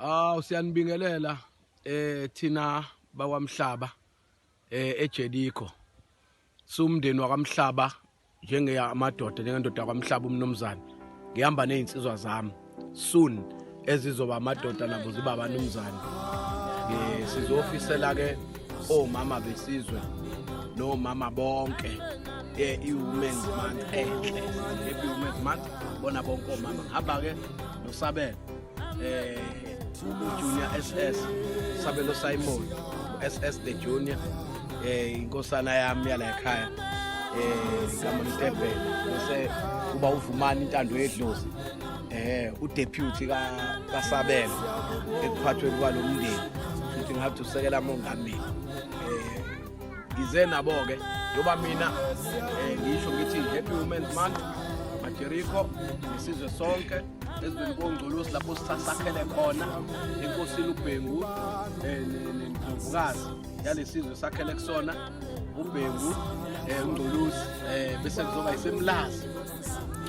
aw siyanibingelela eh thina bakwamhlaba eh eJeriko sumndeni wakwamhlaba njengeya amadoda njengendoda yakwamhlaba umnumzane ngihamba nezinsizwa zami soon ezizoba amadoda nabo ziba abanumzane eh sizofisela ke omama besizwe nomama bonke eh iwomen's month enhle eh, iwomen's month bona bonke omama hamba ke nosabela eh uJunior SS Sabelo Simon SS the Junior eh inkosana yami yala ekhaya eh igama Mtebhe bese uba uvumani intando yedlozi eh udeputy ka kaSabelo ekuphathweni kwalomndeni futhi ngathi usekela mongameli eh ngize nabo ke yoba mina eh ngisho ngithi happy women's month Jericho, isizwe sonke ezweni kongcolosi lapho sisasakhele khona enkosini ubhengu eh, nendlovukazi yalesizwe sakhele kusona ubhengu eh, ungcolosi eh, bese kuzoba isemlazi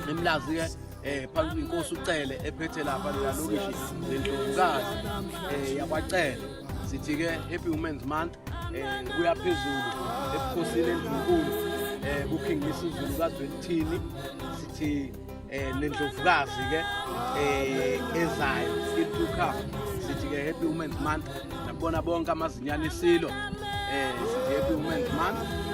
emlazi-ke eh phansi inkosi ucele ephethe lapha lela lokishi lendlovukazi eh yakwacele sithi ke happy women's month eh kuya phezulu ebukhosini endlunkulu eh kuKing Misuzulu kaZwelithini sithi eh nendlovukazi ke eh ezayo into cup sithi ke happy women's month nabona bonke amazinyane isilo eh sithi happy women's month